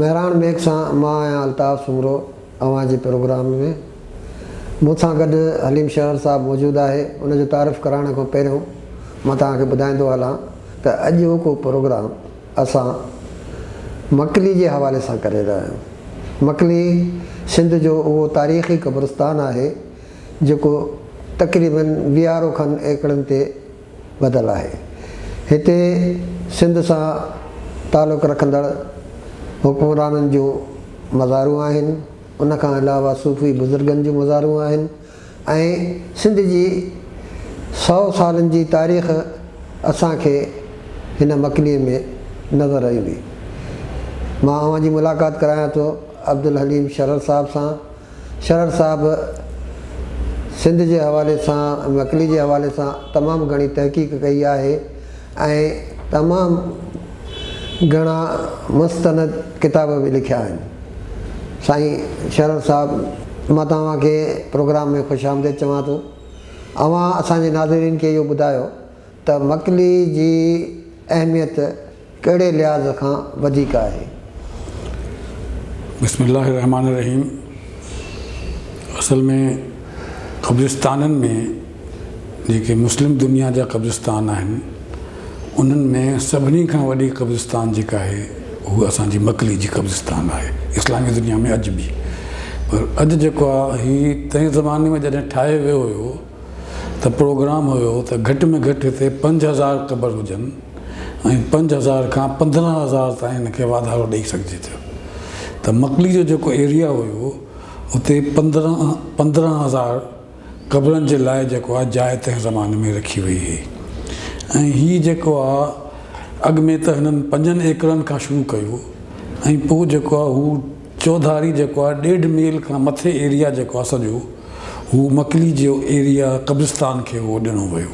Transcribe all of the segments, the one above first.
Mehran Mag سان مان آهيان الطاف سومرو اوهان جي پروگرام ۾ مون سان گڏ حليم شهر صاحب موجود آهي ان جو تعارف ڪرائڻ کان پهريون مان توهان کي ٻڌائيندو هلان ته اڄوڪو پروگرام اسان مڪلي جي حوالي سان ڪري رهيا آهيون مڪلي سنڌ جو اهو تاريخي قبرستان آهي جيڪو تقريبن ويهارو کن ايڪڙن تي ٻڌل آهي. هتي سنڌ سان تعلق رکندڙ حڪمرانن جون مزارون آهن، ان کان علاوه صوفي بزرگن جون مزارون آهن ۽ سنڌ جي سؤ سالن جي تاريخ اسان کي هن مڪليء ۾ نظر ايندي. مان اوهان جي ملاقات ڪرايان ٿو عبدالحليم شرر صاحب سان. شرر صاحب سنڌ جي حوالي سان مڪلي جي حوالي سان تمام گهڻي تحقيق ڪئي آهي ۽ تمام گهڻا مستند ڪتاب به لکيا آهن سائين شرر صاحب مان توهان کي پروگرام ۾ خوش آمديد چوان ٿو اوهان اسان جي ناظرين کي اهو ٻڌايو ته مڪلي جي اهميت ڪهڙي لحاظ کان وڌيڪ آهي؟ بسم الله الرحمٰن الرحيم اصل ۾ قبرستانن ۾ جيڪي مسلم دنيا جا قبرستان آهن انهن ۾ سڀني کان وڏي قبرستان جيڪا آهي هو اسان جي مڪلي جي قبرستان آهي اسلامي دنيا ۾ اڄ به پر اڄ جيڪو آهي هي تنهن زماني ۾ جڏهن ٺاهي ويو هيو ته پروگرام هيو ته گهٽ ۾ گهٽ هتي پنج هزار قبر هجن ۽ پنج هزار کان پندرهن هزار تائين ان کي واڌارو ڏئي سگهجي ٿو ته مڪلي جو جيڪو ايريا هيو اتي پندرهن پندرهن هزار قبرن جي لاء جيڪو آهي جاء تنهن زماني ۾ رکي وئي هئي ۽ هي جيڪو آهي اڳ ۾ ته هنن پنجن ايڪڙن کان شروع ڪيو ۽ پوء جيڪو آهي هو چوڌاري جيڪو آهي ڏيڍ ميل کان مٿي ايريا جيڪو آهي سڄو هو مڪلي جيو ايريا قبرستان کي اهو ڏنو ويو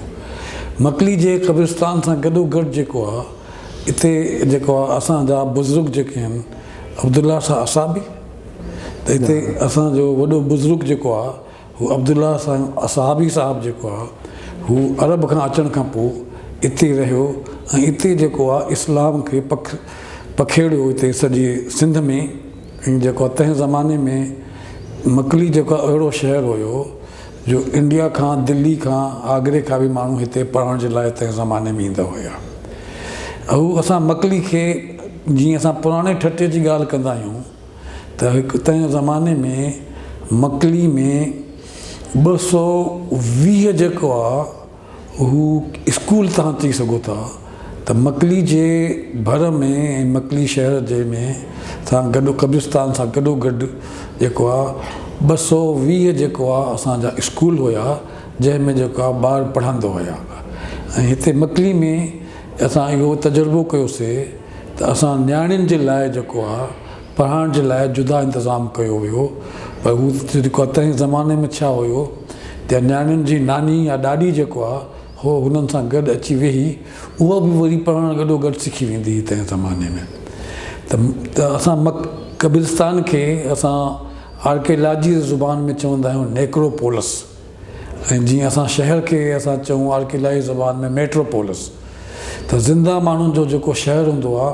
مڪلي جي قبرستان سان گڏو گڏ جيڪو آهي اتي جيڪو آهي اسان جا بزرگ جيڪي آهن عبدالله شاهه اصحابي ته اتي اسان جو وڏو بزرگ جيڪو آهي هو عبدالله سان اصحابي صاحب جيڪو آ هو عرب کان اچڻ کان پوء اتي رهيو ۽ اتي جيڪو آ اسلام کي پکيڙيو اتي سڄي سنڌ ۾ ۽ جيڪو آ تنهن زماني ۾ مڪلي جيڪو آ اهڙو شهر هيو جو انڊيا کان دلي کان آگري کان به ماڻهو هتي پڙهڻ جي لاء تنهن زماني ۾ ايندا هيا اهو اسان مڪلي کي جيئن اسان پراڻي ٺٽي جي ڳالهه ڪندا آهيون ته هڪ تنهن زماني ۾ مڪلي ۾ ٻه سؤ ويهه جيڪو آ هو اسڪول تهان چئي سگهو ٿا ته مڪلي جي ڀر ۾ ۽ مڪلي شهر جي ۾ سان گڏ قبرستان سان گڏو گڏ جيڪو آ ٻه سؤ ويهه جيڪو آ اسان جا اسڪول هيا جنهن ۾ جيڪو آ ٻار پڙهندا هيا ۽ هتي مڪلي ۾ اسان اهو تجربو ڪيو سي ته اسان نياڻين جي لاء جيڪو آ پڙهائڻ جي لاء جدا انتظام ڪيو ويو پر هو جيڪو آ تنهن زماني ۾ ڇا هيو ته نياڻين جي ناني يا ڏاڏي جيڪو آ هو هنن سان گڏ اچي ويهي اها به وري پڙهڻ گڏو گڏ سکي ويندي هئي تنهن زماني ۾ ته اسان مڪ قبرستان کي اسان آرڪيلاجي زبان ۾ چوندا آهيون نيڪروپولس. ۽ جيئن اسان شهر کي اسان چئون آرڪيلائي زبان ۾ ميٽرو پولس ته زنده ماڻهن جو جيڪو شهر هوندو آ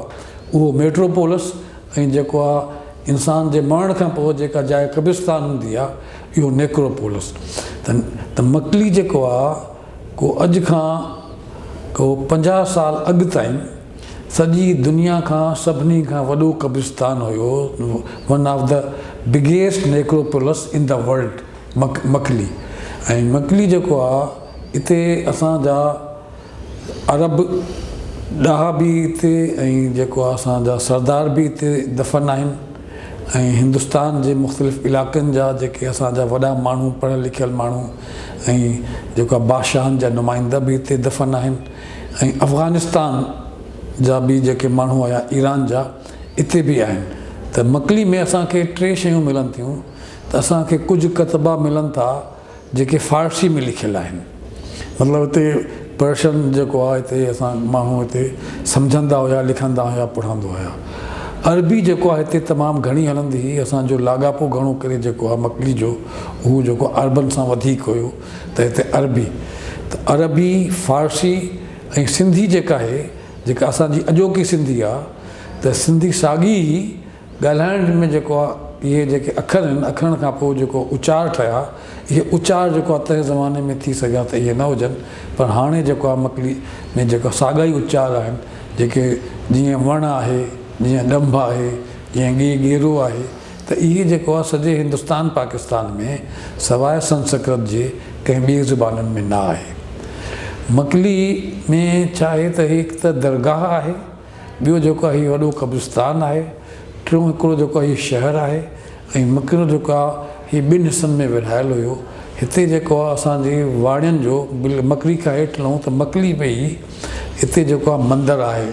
اهو ميٽرو پولس ۽ جيڪو آ انسان جي مرڻ کان پوء جيڪا جاء قبرستان هوندي آ اهو نيڪرو پولس ته ته مڪلي جيڪو آ ڪو اڄ کان ڪو پنجاهه سال اڳ تائين سڄي دنيا کان سڀني کان وڏو قبرستان هيو one of the biggest necropolis in the world. Makli ۽ Makli جيڪو آ اتي اسان جا عرب ڏاها به اتي ۽ جيڪو آ اسان جا سردار به اتي دفن آهن ۽ هندستان جي مختلف علائقن جا جيڪي اسان جا وڏا ماڻهو پڙهيل لکيل ماڻهو ۽ جيڪو آ بادشاهن جا نمائنده به اتي دفن آهن ۽ افغانستان جا به جيڪي ماڻهو آيا ايران جا اتي به آهن ته مڪلي ۾ اسان کي ٽي شيون ملن ٿيون ته اسان کي ڪجهه ڪتبا ملن ٿا جيڪي فارسي ۾ لکيل آهن مطلب هتي پرشن جيڪو آهي هتي اسان ماڻهو هتي سمجهندا هيا لکندا هيا پڙهندا هيا عربي جيڪو آهي هتي تمام گهڻي هلندي هئي اسان جو لاڳاپو گهڻو ڪري جيڪو آهي مڪلي جو اهو جيڪو عربن سان وڌيڪ هيو ته هتي عربي ته عربي فارسي ۽ سنڌي جيڪا آهي جيڪا اسان جي اڄوڪي سنڌي آهي ته سنڌي ساڳي ئي ڳالهائڻ ۾ جيڪو آ اهي جيڪي اکر آهن اکرن کان پوء جيڪو اچار ٺهيا اهي اچار جيڪو آ تنهن زماني ۾ ٿي سگهيا ته اهي نه هجن پر هاڻي جيڪو آ مڪلي ۾ جيڪا ساڳا ئي اچار آهن جيڪي جيئن وڻ آهي جيئن ڏنڀ آهي جيئن ڳي ڳيرو آهي ته اهي جيڪو آ سڄي هندستان پاڪستان ۾ سواء سنسڪرت جي ڪنهن ٻي زبانن ۾ نه آهي مڪلي ۾ ڇا آهي ته هڪ ته درگاهه آهي ٻيو جيڪو هي وڏو قبرستان آهي، ٽيون هڪڙو جيڪو هي شهر آهي ۽ مڪرو جيڪو آ هي ٻن حصن ۾ ورهايل هيو. هتي جيڪو آ اسان جي واڻين جو بل مڪري کان هيٺ لهون ته مڪلي ۾ ئي هتي جيڪو آ مندر آهي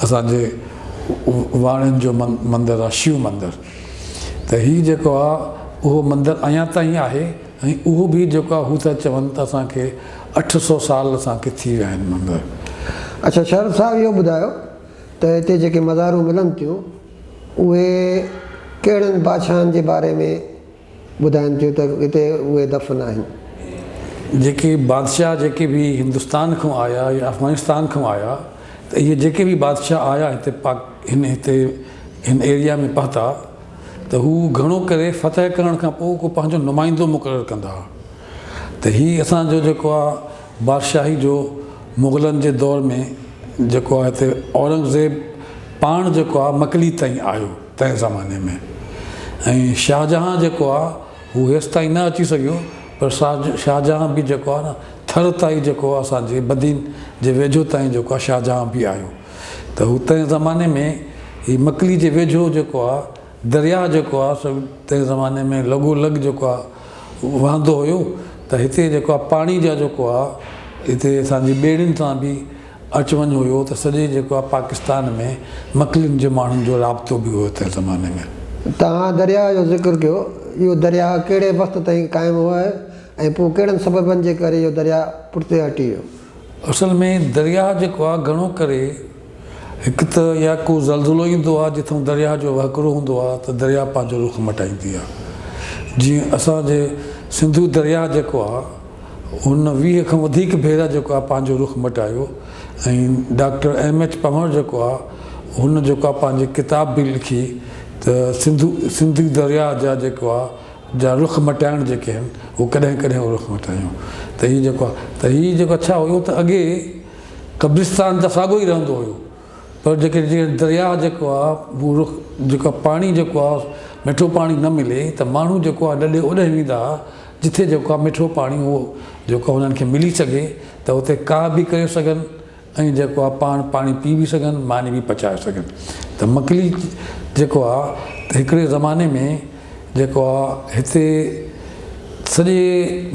اسان جي واڻين جو مندر آ شيو مندر ته هي جيڪو آ اهو مندر اڃان تائين آهي ۽ اهو به جيڪا هو ٿا چون ته اسان کي اٺ سؤ سال اسان کي ٿي ويا آهن مگر. اڇا شرف صاحب اهو ٻڌايو ته هتي جيڪي مزارون ملن ٿيون اهي ڪهڙن بادشاهن جي باري ۾ ٻڌائن ٿيون ته هتي اهي دفن آهن. جيڪي بادشاهه جيڪي به هندستان کان آيا يا افغانستان کان آيا ته اهي جيڪي به بادشاهه آيا هتي پاڪ هن هتي هن ايريا ۾ پهتا. ته هو گهڻو ڪري فتح ڪرڻ کان پوء ڪو پنهنجو نمائندو مقرر ڪندا ها ته هي اسان جو جيڪو آهي بادشاهي جو مغلن جي دور ۾ جيڪو آهي ته اورنگزيب پاڻ جيڪو آهي مڪلي تائين آيو تنهن زماني ۾ ۽ شاهجهان جيڪو آهي هو هيستائين نه اچي سگهيو پر شاهجهان به جيڪو آهي نه ٿر تائين جيڪو آهي اسان جي بدين جي ويجهو تائين جيڪو آهي شاهجهان به آيو ته هو تنهن زماني ۾ هي مڪلي جي ويجهو جيڪو آ درياهه جيڪو آ سو تنهن زماني ۾ لڳو لڳ جيڪو آ وهندو هيو ته هتي جيڪو آ پاڻي جا جيڪو آ هتي اسان جي ٻيڙين سان به اچ وڃ هيو ته سڄي جيڪو آ پاڪستان ۾ مڪلين جي ماڻهن جو رابطو به هيو تنهن زماني ۾. توهان درياهه جو ذڪر ڪيو اهو درياهه ڪهڙي وقت تائين قائم هو ۽ پوء ڪهڙن سببن جي ڪري اهو درياهه پٺتي هٽي ويو؟ اصل ۾ درياهه جيڪو آهي گهڻو ڪري هڪ ته يا ڪو زلزلو ايندو آهي جتان درياهه جو وهڪرو هوندو آهي ته درياهه پنهنجو رخ مٽائيندي آهي جيئن اسان جي سنڌو درياهه جيڪو آهي هن ويهه کان وڌيڪ ڀيرا جيڪو آهي پنهنجو رخ مٽايو ۽ ڊاڪٽر ايم ايڇ پنهور جيڪو آهي هن جيڪو آهي پنهنجي ڪتاب به لکي ته سنڌو سنڌو درياهه جا جيڪو آهي جا رخ مٽائڻ جيڪي آهن هو ڪڏهن ڪڏهن اهو رخ مٽايون ته هي جيڪو آهي ته هي جيڪو اڇا هيو ته اڳي قبرستان ته ساڳو ئي رهندو هيو پر جيڪي جيئن درياهه جيڪو آهي هو رخ جيڪو پاڻي جيڪو آهي مٺو پاڻي نه ملي ته ماڻهو جيڪو آهي لڏي اوڏهين ويندا هئا جتي جيڪو آهي مٺو پاڻي هو جيڪو هنن کي ملي سگهي ته هتي ڪاهه به ڪري سگهن ۽ جيڪو آهي پاڻ پاڻي پي به سگهن ماني به پچائي سگهن ته مڪلي جيڪو آهي ته هڪڙي زماني ۾ جيڪو آهي هتي سڄي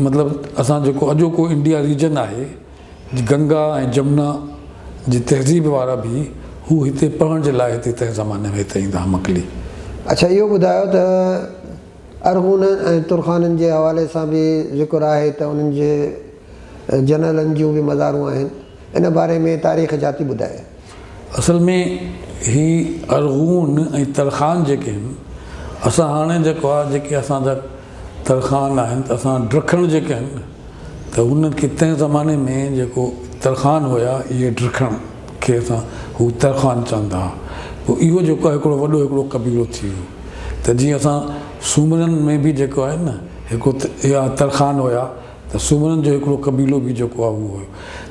مطلب اسان جيڪو اڄوڪو انڊيا ريجن آهي گنگا ۽ جمنا جي تهذيب وارا به هو هتي پڙهڻ جي لاء هتي تنهن زماني ۾ هتي ايندا ها مڪلي. اڇا اهو ٻڌايو ته ارغونن ۽ ترخانن جي حوالي سان به ذڪر آهي ته انهن جي. جنرلن جون به مزارون آهن. ان باري ۾ تاريخ ڇا ٿي ٻڌائي؟ اصل ۾ هي ارغون ۽ ترخان جيڪي آهن، اسان هاڻي جيڪو آهي جيڪي اسان جا ترخان آهن ته اسان ڊرکڻ جيڪي آهن ته انهن کي تنهن زماني ۾ جيڪو ترخان هيا اهي ڊرکڻ کي اسان هو ترخان چوندا ها پوء اهو جيڪو آهي هڪڙو وڏو هڪڙو قبيلو ٿي ويو ته جيئن اسان سومرن ۾ به جيڪو آهي نه هڪڙو اها ترخان هيا. ته سومرن جو هڪڙو قبيلو به جيڪو آهي اهو هيو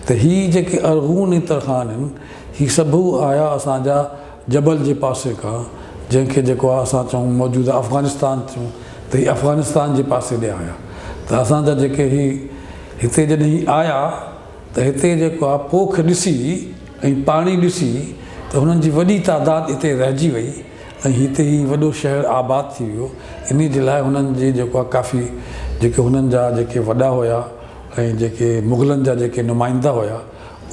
ته هي جيڪي ارغون ۽ ترخان آهن هي سڀ آيا اسان جا جبل جي پاسي کان جنهن کي جيڪو آهي اسان چئون موجوده افغانستان چئون ته هي افغانستان جي پاسي ڏي آيا ته اسان جا جيڪي هي هتي جڏهن هي آيا ته هتي جيڪو آهي پوک ڏسي ۽ پاڻي ڏسي ته هنن جي وڏي تعداد هتي رهجي وئي ۽ هتي هي وڏو شهر آباد ٿي ويو انهي جي لاء هنن جي جيڪو آهي ڪافي جيڪي هنن جا جيڪي وڏا هيا ۽ جيڪي مغلن جا جيڪي نمائندا هيا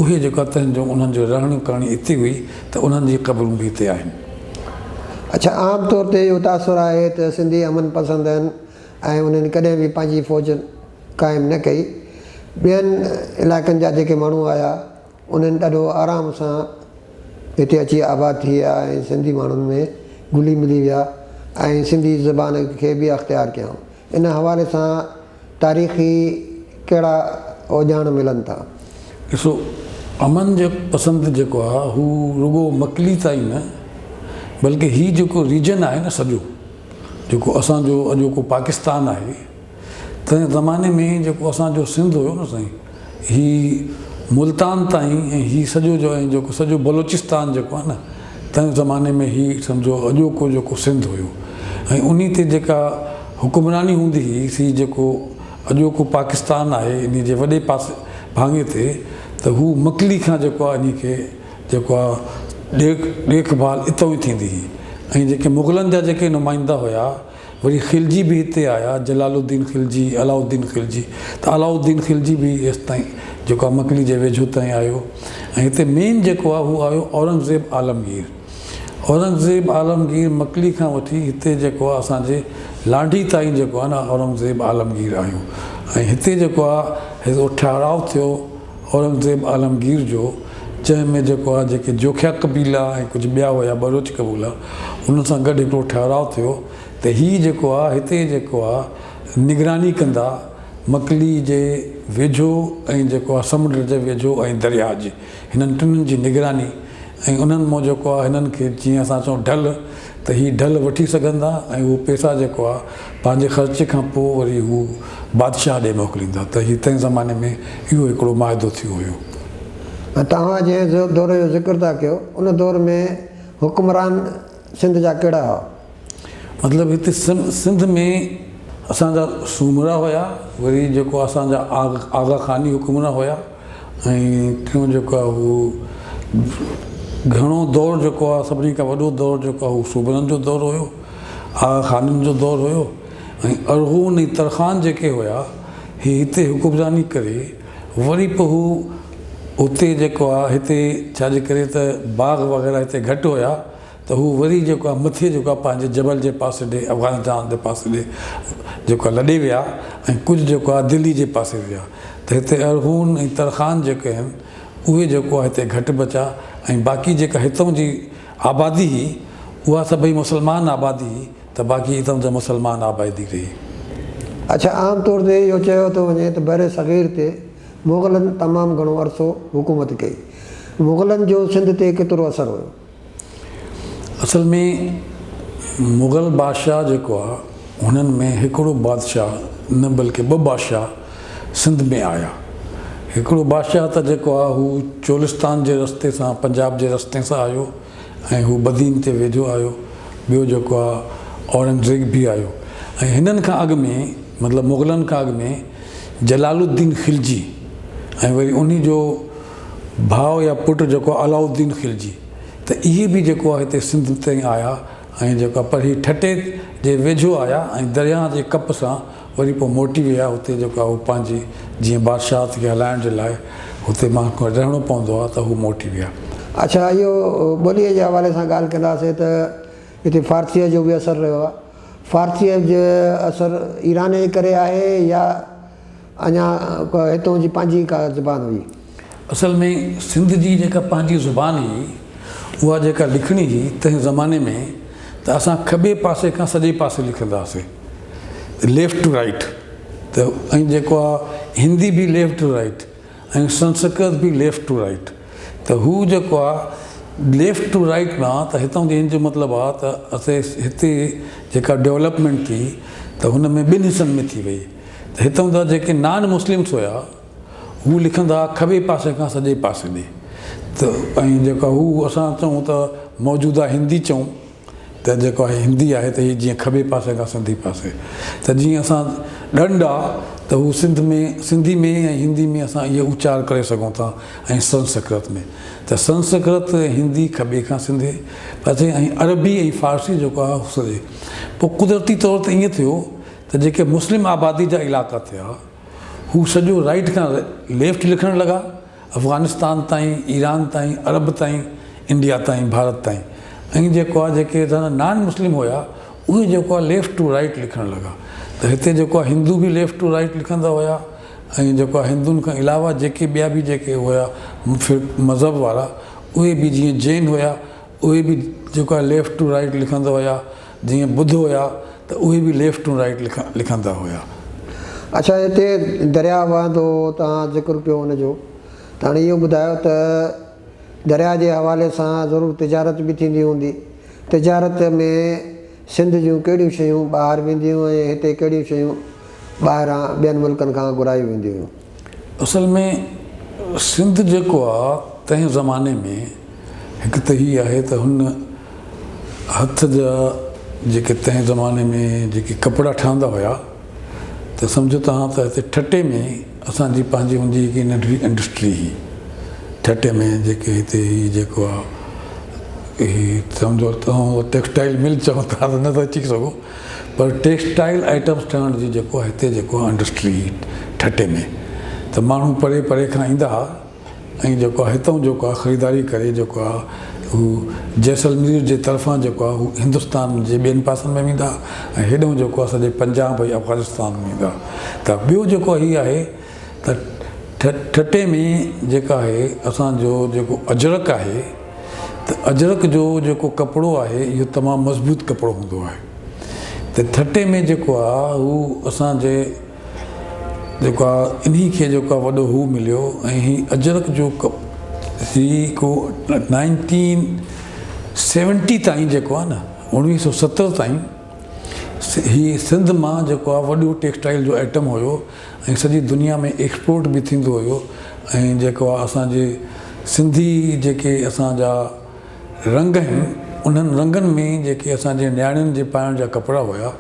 اهي جيڪو آهي تنهن جو انهن جو رهڻي ڪرڻي هتي هئي ته انهن جي قبرون به هتي آهن. اڇا عام طور تي اهو تاثر آهي ته سنڌي امن پسند آهن ۽ انهن ڪڏهن به پنهنجي فوج قائم نه ڪئي ٻين علائقن جا جيڪي ماڻهو آيا. انهن ڏاڍو آرام سان هتي اچي آباد ٿي ويا ۽ سنڌي ماڻهن ۾ گهلي ملي ويا ۽ سنڌي زبان کي به اختيار ڪيائون. ان حوالي سان تاريخي ڪهڙا اوڄاڻ ملن ٿا؟ ڏسو، امن جي پسند جيڪو آهي هو رڳو مڪلي تائين نه بلڪه هي جيڪو ريجن آهي نه سڄو جيڪو اسان جو اڄوڪو پاڪستان آهي، تنهن زماني ۾ جيڪو اسان جو سنڌ هيو نه سائين هي ملتان تائين ۽ هي سڄو جو ۽ جيڪو سڄو بلوچستان جيڪو آهي نه تنهن زماني ۾ هي سمجهو اڄوڪو جيڪو سنڌ هيو ۽ انهي تي جيڪا حڪمراني هوندي هئي سي جيڪو اڄوڪو پاڪستان آهي انهي جي وڏي پاسي ڀاڱي تي ته هو مڪلي کان جيڪو آهي انهي کي جيڪو آهي ڏيک ڏيک ڀال اتئون ئي ٿيندي هئي ۽ جيڪي مغلن جا جيڪي نمائندا هيا وري خلجي به هتي آيا، جلال الدين خلجي، علاء الدين خلجي ته علاء الدين خلجي به ايستائين جيڪو آهي مڪلي جي ويجهو تائين آيو ۽ هتي مين جيڪو آهي هو آيو اورنگزيب عالمگير. اورنگزيب عالمگير مڪلي کان وٺي هتي جيڪو آهي اسان جي لانڍي تائين جيڪو آهي نه اورنگزيب عالمگير آيو ۽ هتي جيڪو آهي هتي ٺهراء ٿيو. اورنگزيب عالمگير جو چئن ۾ جيڪو آهي جيڪي جوکيا قبيلا ۽ ڪجهه ٻيا هيا بلوچ قبولا انهن سان گڏ هڪڙو ٺهراء ٿيو ته هي جيڪو آهي هتي جيڪو آهي نگراني ڪندا مڪلي جي ويجهو ۽ جيڪو آهي سمنڊ جي ويجهو ۽ درياء جي هنن ٽنهن جي نگراني ۽ انهن مون جيڪو آهي هنن کي جيئن اسان چئون ڍل ته هي ڍل وٺي سگهندا ۽ اهو پيسا جيڪو آ پنهنجي خرچ کان پوء وري هو بادشاهه ڏي موڪليندا ته هي تنهن زماني ۾ اهو هڪڙو معاهدو ٿيو هيو. ۽ توهان جنهن دور جو ذڪر ٿا ڪيو ان دور ۾ حڪمران سنڌ جا ڪهڙا هئا؟ مطلب هتي سنڌ ۾ اسان جا سومرا هيا وري جيڪو اسان جا آغا خاني حڪمران هيا. ۽ ٽيون جيڪو آهي اهو گهڻو دور جيڪو آهي سڀني کان وڏو دور جيڪو آهي اهو صوبرن جو دور هيو آغا خانن جو دور هيو ۽ ارغون ۽ ترخان جيڪي هيا هي هتي حڪمراني ڪري وري پوء هو هتي جيڪو آهي هتي ڇاجي ڪري ته باغ وغيره هتي گهٽ هيا ته هو وري جيڪو آهي مٿي جيڪو آهي پنهنجي جبل جي پاسي ڏي افغانستان جي پاسي ڏي جيڪو آهي لڏي ويا ۽ ڪجهه جيڪو آهي دلي جي پاسي ويا ته هتي ارغون ۽ ترخان جيڪي آهن اهي جيڪو آهي هتي گهٽ بچا ۽ باقي جيڪا هتون جي آبادي هئي اها سڀئي مسلمان آبادي هئي ته باقي هتون جا مسلمان آبادي رهي. اڇا عام طور تي اهو چيو ٿو وڃي ته برصغير تي مغلن تمام گهڻو عرصو حڪومت ڪئي. مغلن جو سنڌ تي ڪيترو اثر هيو؟ اصل ۾ مغل بادشاهه جيڪو آ هنن ۾ هڪڙو بادشاهه نه بلڪه ٻه بادشاهه سنڌ ۾ آيا. هڪڙو بادشاهه ته جيڪو آ هو چولستان جي رستي سان پنجاب جي رستي سان آيو ۽ هو بدين تي ويجهو آيو. ٻيو جيڪو آ اورنگزيب به آيو ۽ هنن کان اڳ ۾ مطلب مغلن کان اڳ ۾ جلال الدين خلجي ۽ وري انهي جو ڀاء يا پٽ جيڪو علاء الدين خلجي ته اهي به جيڪو آهي هتي سنڌ تائين آيا ۽ جيڪو آهي پرهي ٺٽي جي ويجهو آيا ۽ درياهه جي ڪپ سان وري پوء موٽي ويا هتي جيڪو آهي هو پنهنجي جيئن بادشاهت کي هلائڻ جي لاء هتي ماڻهن کي رهڻو پوندو آهي ته هو موٽي ويا. اڇا اهو ٻوليء جي حوالي سان ڳالهه ڪنداسين ته هتي فارسيء جو به اثر رهيو آهي. فارسيء جو اثر ايران جي ڪري آهي يا اڃا هتون جي پنهنجي ڪا زبان هئي. اصل ۾ سنڌ جي جيڪا پنهنجي زبان هئي، اها جيڪا لکڻي هئي، تنهن زماني ۾ ته اسان کٻي پاسي کان سڄي پاسي لکندا هئاسين، Left to Right، ته ائين جيڪو آ هندي به Left to Right ۽ سنسڪرت به Left to Right، ته هو جيڪو آ Left to Right ڏانهن ته هتون جي ان جو مطلب آ ته اسي هتي جيڪا Development ٿي ته هن ۾ ٻن حصن ۾ ٿي وئي. هتان جا جيڪي نان مسلمس هيا هو لکندا ها کٻي پاسي کان سڄي پاسي ڏي ته ۽ جيڪا هو اسان چئون ته موجوده هندي چئون ته جيڪو آهي هندي آهي ته هي جيئن کٻي پاسي کان سنڌي پاسي ته جيئن اسان ڏنڊ آ ته هو سنڌ ۾ سنڌي ۾ ۽ هندي ۾ اسان اهي اچار ڪري سگهون ٿا ۽ سنسڪرت ۾ ته سنسڪرت ۽ هندي کٻي کان سنڌي پاسي ۽ عربي ۽ فارسي جيڪو آهي سڄي پوء قدرتي طور ته ائين ٿيو ته جيڪي مسلم آبادي جا علائقا ٿيا، هو سڄو رائيٽ کان ليفٽ لکڻ لڳا، افغانستان تائين، ايران تائين، عرب تائين، انڊيا تائين، ڀارت تائين. ائين جيڪو آ جيڪي اتان نان مسلم هيا، اهي جيڪو آ ليفٽ ٽو رائيٽ لکڻ لڳا. ته هتي جيڪو آ هندو به ليفٽ ٽو رائيٽ لکندا هيا ۽ جيڪو آ هندن کان علاوه جيڪي ٻيا به جيڪي هيا مذهب وارا، اهي به جيئن جين هيا، اهي به جيڪا ليفٽ ٽو رائيٽ لکندا هيا جيئن ٻڌ هيا ته اهي به ليفٽ ٽو رائيٽ لکندا هيا. اڇا هتي درياء وهندو هو توهان ذڪر ڪيو ان جو ته هاڻي اهو ٻڌايو ته درياء جي حوالي سان ضرور تجارت به ٿيندي هوندي تجارت ۾ سنڌ جون ڪهڙيون شيون ٻاهر وينديون ۽ هتي ڪهڙيون شيون ٻاهران ٻين ملڪن کان گهرائيون وينديون هيون. اصل ۾ سنڌ جيڪو آ تنهن زماني ۾ هڪ ته هي آهي ته هن هٿ جا جيڪي تنهن زماني ۾ جيڪي ڪپڙا ٺهندا هيا ته سمجهو توهان ته هتي ٺٽي ۾ اسان جي پنهنجي هوندي هڪ ننڍڙي انڊسٽري هي ٺٽي ۾ جيڪي هتي هي جيڪو آ هي سمجهو ٽيڪسٽائل مل چئون ٿا ته نه ٿا چئي سگهون پر ٽيڪسٽائيل آئيٽمز ٺهڻ جي جيڪو هتي جيڪو انڊسٽري هئي ٺٽي ۾ ته ماڻهو پري پري کان ايندا ها ۽ جيڪو هتئون جيڪو خريداري ڪري جيڪو آ هو جيسلمير جي طرفان جيڪو آ هو هندستان جي ٻين پاسن ۾ ويندا ۽ هيڏئون جيڪو آ سڄي پنجاب ۽ افغانستان ۾ ويندا ته ٻيو جيڪو هي آهي ته ٺٽي ۾ جيڪا آهي اسان جو جيڪو اجرڪ آهي ته اجرڪ جو جيڪو ڪپڙو آهي اهو تمام مضبوط ڪپڙو هوندو آهي ته ٺٽي ۾ جيڪو آ هو اسان جي جيڪو آ انهي کي جيڪو آ وڏو هو مليو ۽ هي اجرڪ جو هي ڪو نائنٽين سيونٽي تائين جيڪو آ نه اڻويهه سو ستر تائين هي سنڌ مان جيڪو آ وڏو ٽيڪسٽائيل جو آئٽم هيو ۽ سڄي دنيا ۾ ايڪسپورٽ به ٿيندو هيو ۽ جيڪو آ اسان جي سنڌي جيڪي اسان جا رنگ آهن انهن رنگن ۾ جيڪي اسان جي نياڻين جي پائڻ جا ڪپڙا هيا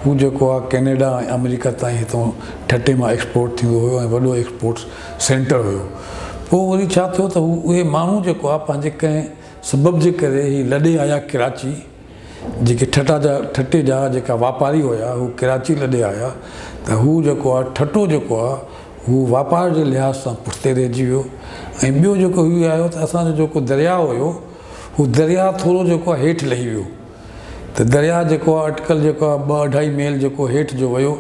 هو جيڪو آ ڪينيڊا ۽ آمريڪا تائين هتون ٺٽي مان ايڪسپورٽ ٿيندو هيو ۽ وڏو ايڪسپورٽ سينٽر هيو پوء وري ڇا ٿيو ته هو اهي ماڻهو جيڪو آ پنهنجي ڪنهن سبب جي ڪري هي لڏي آيا ڪراچي جيڪي ٺٽا جا ٺٽي جا جيڪا واپاري هيا هو ڪراچي لڏي آيا ته هو جيڪو آ ٺٽو جيڪو آ هو واپار جي لحاظ سان پٺتي رهجي ويو ۽ ٻيو جيڪو هي آيو ته اسان جو جيڪو درياء هيو هو درياء ٿورو جيڪو آ هيٺ لهي ويو ته درياء جيڪو آ اٽڪل جيڪو آ ٻه اڍائي ميل جيڪو هيٺ جو ويو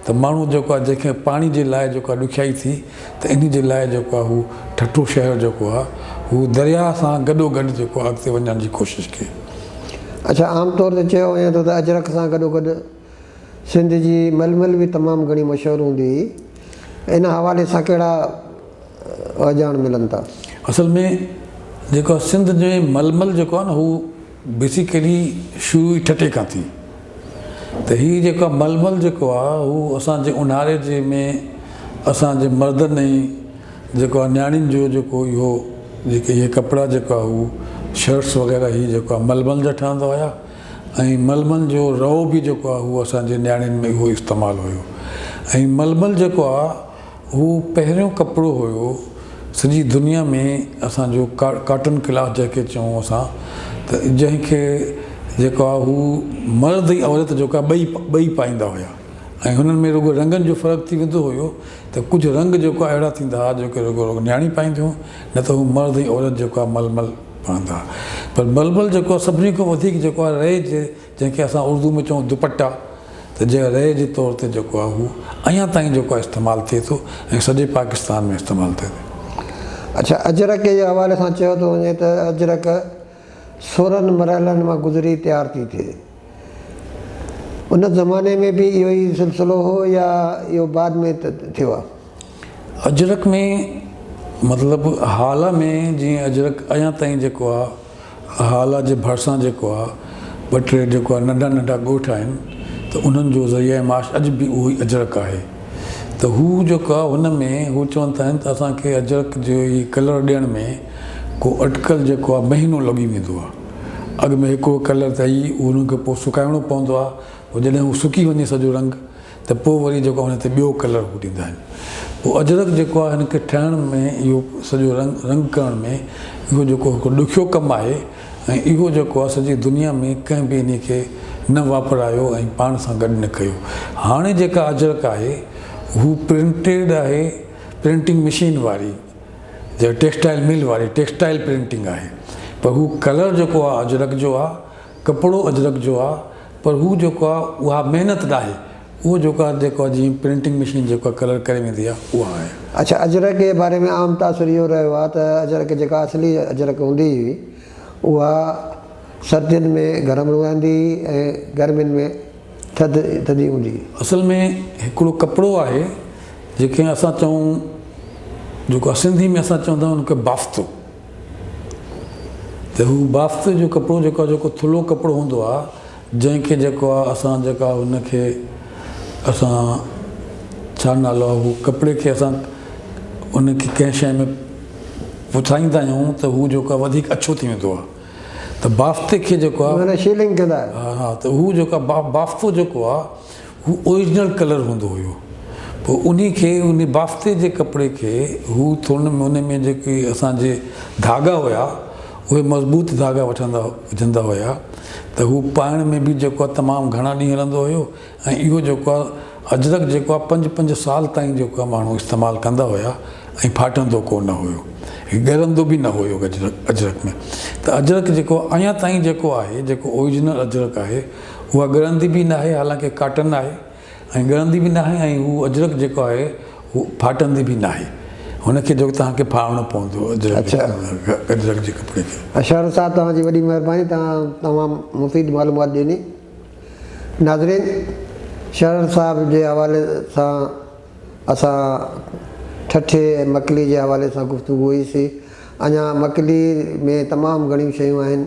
ته ماڻهو جيڪو آهي جنهن کي پاڻي جي لاء جيڪو آهي ڏکيائي ٿي ته انهي جي لاء جيڪو آهي هو ٺٽو شهر جيڪو آهي هو درياهه سان گڏو گڏ جيڪو آهي اڳتي وڃڻ جي ڪوشش ڪئي. اڇا عام طور تي چيو وڃي ٿو ته اجرڪ سان گڏو گڏ سنڌ جي ململ به تمام گهڻي مشهور هوندي هئي ان حوالي سان ڪهڙا اهجاڻ ملن ٿا؟ اصل ۾ جيڪو آهي سنڌ جي ململ جيڪو آهي نه هو بيسيڪلي شروع ئي ٺٽي کان ٿي ته هي جيڪا ململ جيڪو آ هو اسان جي اونهاري جي ۾ اسان جي مردن ۽ جيڪو آ نياڻين جو جيڪو اهو جيڪي اهي ڪپڙا جيڪو آ هو شرٽس وغيره هي جيڪو آ ململ جا ٺهندا هيا ۽ ململ جو رئو به جيڪو آ هو اسان جي نياڻين ۾ اهو استعمال هيو ۽ ململ جيڪو آ هو پهريون ڪپڙو هيو سڄي دنيا ۾ اسان جو ڪاٽن ڪلاٿ جنهن کي چئون اسان ته جنهن کي جيڪو آهي هو مرد ۽ عورت جيڪو آهي ٻئي ٻئي پائيندا هيا ۽ هنن ۾ رڳو رنگن جو فرق ٿي ويندو هيو ته ڪجهه رنگ جيڪو آهي اهڙا ٿيندا هيا جيڪو رڳو رڳو نياڻيون پائينديون هيون نه ته هو مرد ۽ عورت جيڪو آهي ململ پهندا هيا پر ململ جيڪو آهي سڀني کان وڌيڪ جيڪو آهي رئي جي جنهن کي اسان اردو ۾ چئون دوپٽا ته جنهن ريء جي طور تي جيڪو آهي اهو اڃا تائين جيڪو آهي استعمال ٿئي ٿو ۽ سڄي پاڪستان ۾ استعمال ٿئي ٿو. اچا اجرڪ جي حوالي سان چيو ٿو وڃي ته اجرڪ سورهن مرحلن مان گذري تيار ٿي ٿئي. ان زماني ۾ به اهو ئي سلسلو هو يا اهو بعد ۾ ٿيو آهي. اجرڪ ۾ مطلب هالا ۾ جيئن اجرڪ اڃان تائين جيڪو آ هالا جي ڀرسان جيڪو آ ٻه ٽي جيڪو آ ننڍا ننڍا ڳوٺ آهن ته انهن جو ذريعه معاش اڄ به اهو ئي اجرڪ آهي ته هو جيڪو آ هن ۾ هو چون ٿا آهن ته اسان کي اجرڪ جي هي ڪلر ڏيڻ ۾ ڪو اٽڪل جيڪو آ مهينو لڳي ويندو آ اڳ ۾ هڪڙو ڪلر ته اهي انهن کي پوء سڪائڻو پوندو آ پوء جڏهن هو سڪي وڃي سڄو رنگ ته پوء وري جيڪو آهي ان تي ٻيو ڪلر هو ڏيندا آهن پوء اجرڪ جيڪو آهي ان کي ٺهڻ ۾ اهو سڄو رنگ رنگ ڪرڻ ۾ اهو جيڪو هڪ ڏکيو ڪم آهي ۽ اهو جيڪو آهي سڄي دنيا ۾ ڪنهن به انهي کي نه واپرايو ۽ پاڻ سان گڏ نه ڪيو هاڻي جيڪا اجرڪ آهي هو پرنٽيڊ آهي پرنٽنگ مشين واري جا ٽيڪسٽائل مل واري ٽيڪسٽائل پرنٽنگ آهي پر هو ڪلر جيڪو آهي اجرڪ جو آهي ڪپڙو اجرڪ جو آ پر هو جيڪو آ اها محنت ناهي اهو جيڪو آ جيڪو آ جيئن پرنٽنگ مشين جيڪو آ ڪلر ڪري ويندي آ اها آهي. اڇا اجرڪ جي باري ۾ عام تاثر اهو رهيو آ ته اجرڪ جيڪا اصلي اجرڪ هوندي هئي اها سردين ۾ گرم رهندي هئي ۽ گرمين ۾ ٿڌ ٿڌي هوندي هئي. اصل ۾ هڪڙو ڪپڙو آهي جيڪي اسان چئون جيڪو آ سنڌي ۾ اسان چوندا آهيون ان کي بافتو. ته هو بافتي جو ڪپڙو جيڪو آهي جيڪو ٿلهو ڪپڙو هوندو آهي جنهن کي جيڪو آهي اسان جيڪا ان کي اسان ڇا نالو آهي هو ڪپڙي کي اسان ان کي ڪنهن شيء ۾ وڇائيندا آهيون ته هو جيڪو آهي وڌيڪ اڇو ٿي ويندو آهي ته بافتي کي جيڪو آهي معنيٰ شيلنگ ڪندا آهيو ها ها ته هو جيڪو آهي بافتو جيڪو آهي هو اوريجنل ڪلر هوندو هيو پوء انهي کي انهي بافتي جي ڪپڙي کي هو ٿورن ۾ انهي ۾ جيڪي اسان جي ڌاڳا هيا اهي مضبوط ڌاڳا وٺندا وجهندا هيا ته هو پائڻ ۾ به جيڪو آهي تمام گهڻا ڏينهن هلندو هيو ۽ اهو جيڪو آهي اجرڪ جيڪو آهي پنج پنج سال تائين جيڪو آهي ماڻهو استعمال ڪندا هيا ۽ ڦاٽندو ڪو نه هيو هي ڳرندو به نه هيو اجرڪ ۾ ته اجرڪ جيڪو اڃا تائين جيڪو آهي جيڪو اوريجنل اجرڪ آهي اها ڳرندي به ناهي حالانڪه ڪاٽن آهي ۽ ڳرندي به ناهي ۽ هو اجرڪ جيڪو آهي هو ڦاٽندي به ناهي هن کي جيڪو توهان کي ڦاڙڻو پوندو اجرڪ جي ڪپڙي کي. اشهر صاحب توهان جي وڏي مهرباني توهان تمام مفيد معلومات ڏني ناظرين شهر صاحب جي حوالي سان اسان ٺٺي ۽ مڪلي جي حوالي سان گفتگو هئي سي اڃا مڪلي ۾ تمام گهڻيون شيون آهن